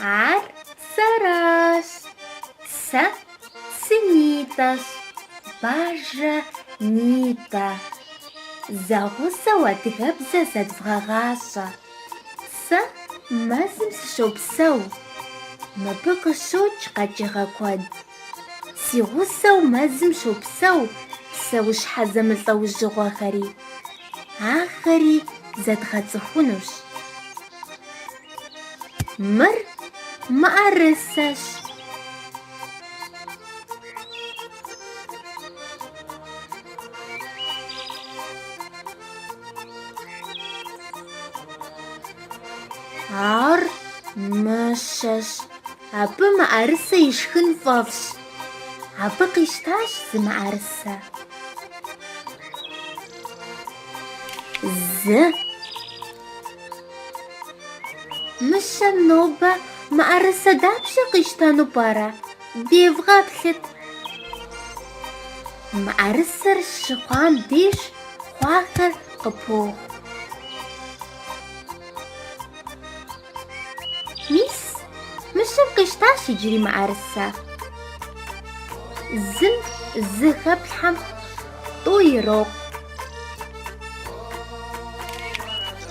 Ар сэращ. Сэ сынитӏэщ. Бажэ нитӏэ. Зэгъусэу адыгэбзэ зэдвгъэгъащӏэ. Сэ мэзым сыщопсэу. Мыбы къыщокӏ къэкӏыгъэ куэд. Си гъусэу мэзым щопсэу псэущхьэ зэмылӏэужьыгъуэхэри. Ахэри зэдгъэцӏыхунущ. Мыр мыӏэрысэщ. Ар мыщэщ. Абы мыӏэрысэ ишхын фӏэфӏщ. Абы къищтащ зы мыӏэрысэ. Зы. Мыщэм нобэ мыӏэрысэ дапщэ къищтэну пӏэрэ? Девгъэплъыт. Мыӏэрысэр щыхъуам деж хъуахэр къыпоху. Мис, мыщэм къищтащ иджыри мыӏэрысэ. Зым зы хэплъхьэм тӏу ирокъу.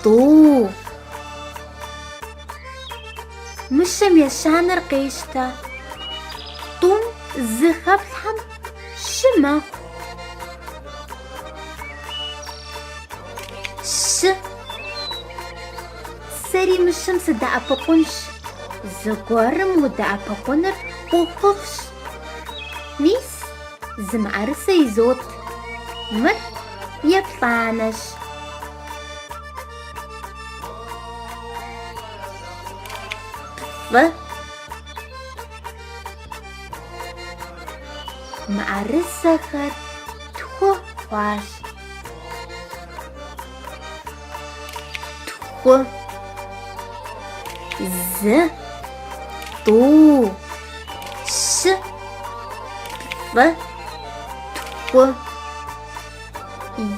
Тӏу. Мыщэм ещанэр къещтэ. Тӏум зы хэплъхьэм щы мэхъу. Щы. Сэри мыщэм сыдэӏэпыкъунщ. Зыгуэрым удэӏэпыкъуныр ӏуэхуфӏщ. Мис, зы мыӏэрысэ изот. Мыр еплӏанэщ. Плӏы. Мыӏэрысэхэр тху хъуащ. Тху. Зы. Тӏу. Щы. Плӏы. Тху.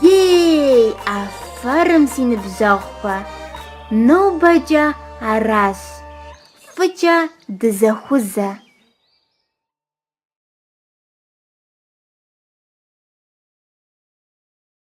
Ей, афэрым си ныбжьэгъухэ. Нобэкӏэ аращ. Фӏыкӏэ дызэхузэ.